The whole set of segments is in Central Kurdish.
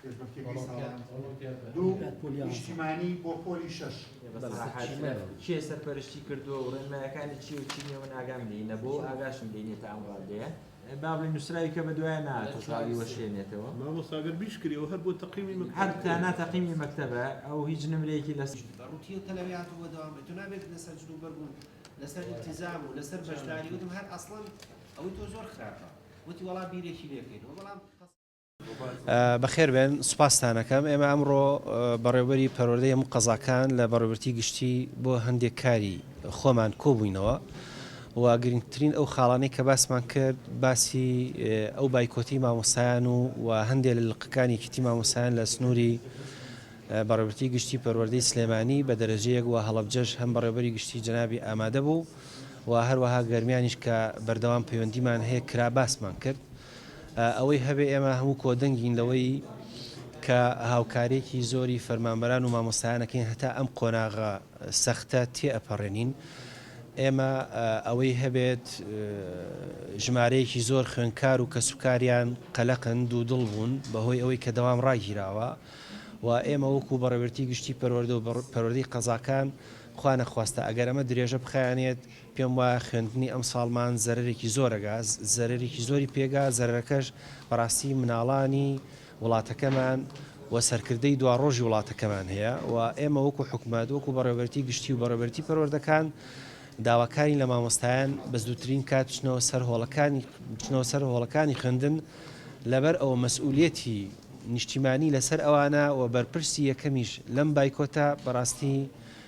پێشبڕکێکەی ساڵانە دوو نیشتیمانی بۆ پۆلی شەش کێ سەرپەرشتی کردووە و ڕێنمایەکانی چی و چی نیە من ئاگام لێی نەبوو ئاگاشم لێی نیە تا ئەم ڕادەیە بابلی نووسراوی کە بە دوای ناتەساوی وەشێنێتەوە مامۆساگەر بیشکریەوە هەر بۆ تەقیمی من هەر تانا تەقیمی مەکتەبە ئەو هیچ نمرەیەکی لەس ڕوتیە تەلەویات و بەدەوام تو نابێت لەسەر جلو بەربوون لەسەر التزام و لەسەر بەشداری وتم هەر ئەسڵەن ئەوەی تۆ زۆر خراپە وتی وەڵا بیرێکی لێکەین بەڵام بەخێربێن، سوپاستان ئەکەم. ئێمە ئەمڕۆ بەڕێوەبەری پەروەردەی هەموو قەزاکان لە بەڕێوەبەرتی گشتی بۆ هەندێک کاری خۆمان کۆبووینەوە و گرنگترین ئەو خاڵانەی کە باسمان کرد باسی ئەو بایکۆتی مامۆستایان و و هەندێک لە لقەکانی یەکێتی مامۆستایان لە سنووری بەڕێوەبەرتی گشتی پەروەردەی سلێمانی بە دەرەجەیەک و هەڵەبجەش هەم بەڕێوەبەری گشتی جەنابی ئامادە بوو و هەروەها گەرمیانیش کە بەردەوام پەیوەندیمان هەیە کرا باسمان کرد. ئەوەی هەبێ ئێمە هەموو کۆدەنگین لەوەی کە هاوکاریەکی زۆری فەرمانبەران و مامۆستایانەکەین هەتا ئەم قۆناغە سەختە تێئەپەڕێنین. ئێمە ئەوەی هەبێت ژمارەیەکی زۆر خوێندکار و کەسوکاریان قەلەقن دوودڵ بوون بەهۆی ئەوەی کە دەوام ڕاگیراوە و ئێمە وەکو بەڕێوەبەرێتی گشتی پەروەردە و پەروەردەی قەزاکان خوانەخواستە ئەگەر ئەمە درێژە بخایەنێت پێم وایە خوێندنی ئەمساڵمان زەرەرێکی زۆرەگا زەرەرێکی زۆری پێگا زەرەرەکەش بەڕاستی مناڵانی وڵاتەکەمان و سەرکردەی دواڕۆژی وڵاتەکەمان هەیە و ئێمە وەکو حکومەت وەکو بەڕێوەبەرتی گشتی و بەڕێوەبەرتی پەروەردەکان داواکاری لە مامۆستایان بە زووترین کات بچنەوە سەر هۆڵەکانی بچنەوە سەر هۆڵەکانی خوێندن لەبەر ئەوە مەسئولەتی نیشتیمانی لەسەر ئەوانە و بەرپرسی یەکەمیش لەم بایکۆتە بەڕاستی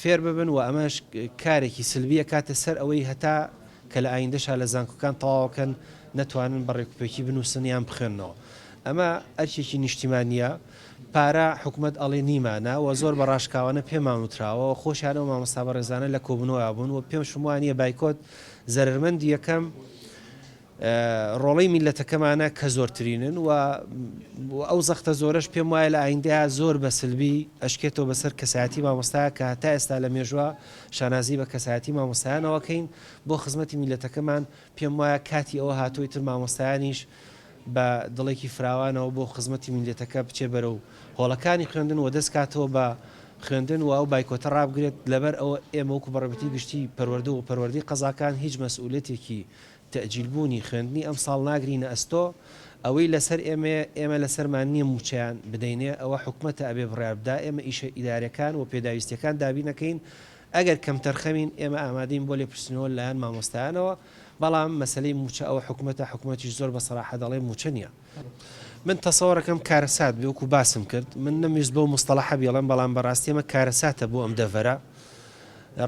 فێر ببن و ئەمەش کارێکی سلبی ئەکاتە سەر ئەوەی هەتا کە لە ئایندەشا لە زانکۆکان تەواوەکەن نەتوانن بە ڕێکوپێکی بنوسن یان بخوێننەوە ئەمە ئەرکێکی نیشتیمانیە پارە حکومەت ئەڵێ نیمانە و زۆر بە ڕاشکاوانە پێمان وتراوە و خۆشیان ئەو مامۆستا بەڕێزانە لە کۆبونەوە بوون و پێمشم وانیە بایکۆت زەرەرمەندی یەکەم ڕۆڵەی میللەتەکەمانە کە زۆرترینن و ئەو زەختە زۆرەش پێم وایە لە ئایندەیا زۆر بە سلبی ئەشکێتەوە بە سەر کەسایەتی مامۆستایا کە هەتا ئێستا لە مێژووا شانازی بە کەسایەتی مامۆستایانەوە کەین بۆ خزمەتی میللەتەکەمان پێم وایە کاتی ئەوە هاتووە ئیتر مامۆستایانیش بە دڵێکی فراوانەوە بۆ خزمەتی میللەتەکە بچێ بەرەو هۆڵەکانی خوێندن و دەست کاتەوە بە خوێندن و ئەو بایکۆتە ڕابگرێت لەبەر ئەوە ئێمە وەکو بەڕێوبەتی گشتی پەروەردە و پەروەردەی قەزاکان هیچ مەسئولیەتێکی تەئجیل بوونی خوێندنی ئەمساڵ ناگرینە ئەستۆ، ئەوەی لەسەر ئێمەیە، ئێمە لەسەرمان نیە مووچەیان بدەینێ، ئەوە حکومەتە ئەبێ بڕیار بدا، ئێمە ئیشە ئیدارەکان و پێداویستیەکان دابینەکەین، ئەگەر کەمتەرخەمین ئێمە ئامادەین بۆ لێپرسینەوە لەلایەن مامۆستایانەوە، بەڵام مەسەلەی مووچە ئەوە حکومەتە، حکومەتیش زۆر بە سەراحە دەڵێ مووچە نیە. من تەسەوەڕەکەم کارەسات بێ وەکو باسم کرد من نەمویست بەو مستەڵەحە بیڵێم بەڵام بەڕاستی ئەمە کارەساتە بۆ ئەم دەڤەرە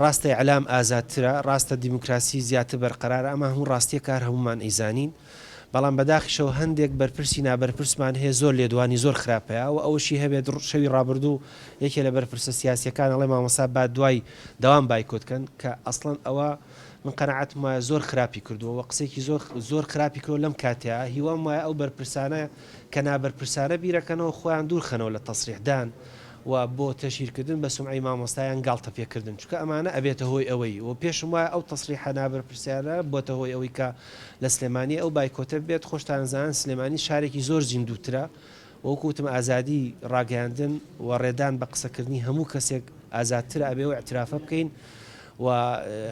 ڕاستە ئیعلام ئازادترە ڕاستە دیموکراسی زیاتر بەرقەرارە ئەمە هەموو ڕاستیە کار هەمومان ئەیزانین بەڵام بەداخیشەوە هەندێک بەرپرسی نابەرپرسمان هەیە زۆر لێدوانی زۆر خراپ هەیە و ئەوەشی هەبێت شەوی ڕابردوو یەکێ لە بەرپرسە سیاسیەکان ئەڵێ مامۆستا با دوای دەوام بایکۆت کەن کە ئەسڵەن ئەوە من قەناعەتم وایە زۆر خراپی کردووە وە قسەیەکی زۆر زۆر خراپی کردووە لەم کاتەیا هیوام وایە ئەو بەرپرسانە کە نابەرپرسانە بیرەکەنەوە خۆیان دوور خەنەوە لە تەسریح دان و بۆ تەشهیر کردن بە سومعەی مامۆستا یان گاڵتە پێ کردن چونکە ئەمانە ئەبێتە هۆی ئەوەی وە پێشم وایە ئەو تەسریحە نابەرپرسیارە بۆتە هۆی ئەوەی کە لە سلێمانی ئەو بایکۆتە بێت خۆشتان ئەزانن سلێمانی شارێکی زۆر زیندووترە وەکو وتم ئازادی ڕاگەیاندن و ڕێدان بە قسەکردنی هەموو کەسێک ئازادتر ئەبێ و ئیعترافە بکەین و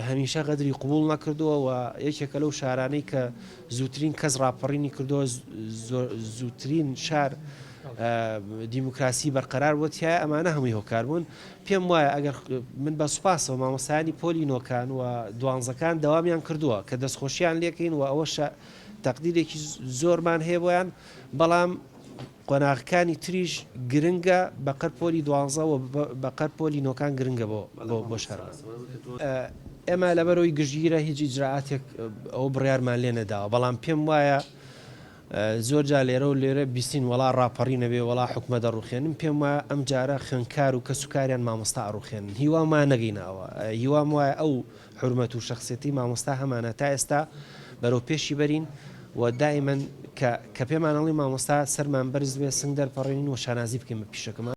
هەمیشە غەدری قبوڵ نەکردووە و یەکێکە لەو شارانەی کە زووترین کەس ڕاپەڕینی کردووە زووترین شار دیموکراسی بەرقەرار بۆ تایە ئەمانە هەمووی هۆکار بوون پێم وایە ئەگەر من بە سوپاسەوە مامۆسایانی پۆلی نۆکان و دوانزەکان داوامیان کردووە کە دەستخۆشییان لێکەین و ئەوەشە تەقدیرێکی زۆرمان هەیە بۆیان بەڵام قۆناغەکانی تریش گرنگە بەقەر پۆلی دوانزە و بەقەر پۆلی نۆکان گرنگە بۆ بۆ شارمان. ئێمە لەبەرەوەی گشتگیرە هیچ ئیجرائاتێک ئەوە بڕیارمان لێ نەداوە بەڵام پێم وایە زۆر جا لێرە و لێرە بیستین وەڵا ڕاپەڕی نەبێ وەڵا حکومە دەڕوخێنن پێم وایە ئەم جارە خوێنکار و کەسوکاریان مامۆستا ئەڕوخێنن هیوامان نەگەینە ئەوە هیوام وایە ئەو حورمەت و شەخسیەتی مامۆستا هەمانە تا ئێستا بەرەو پێشی بەرین و دائیمەن کە کە پێمان ئەڵی مامۆستا سەرمان بەرز بێ سنگ دەرپەڕێنین و شانازی بکەین بە پیشەکەمان.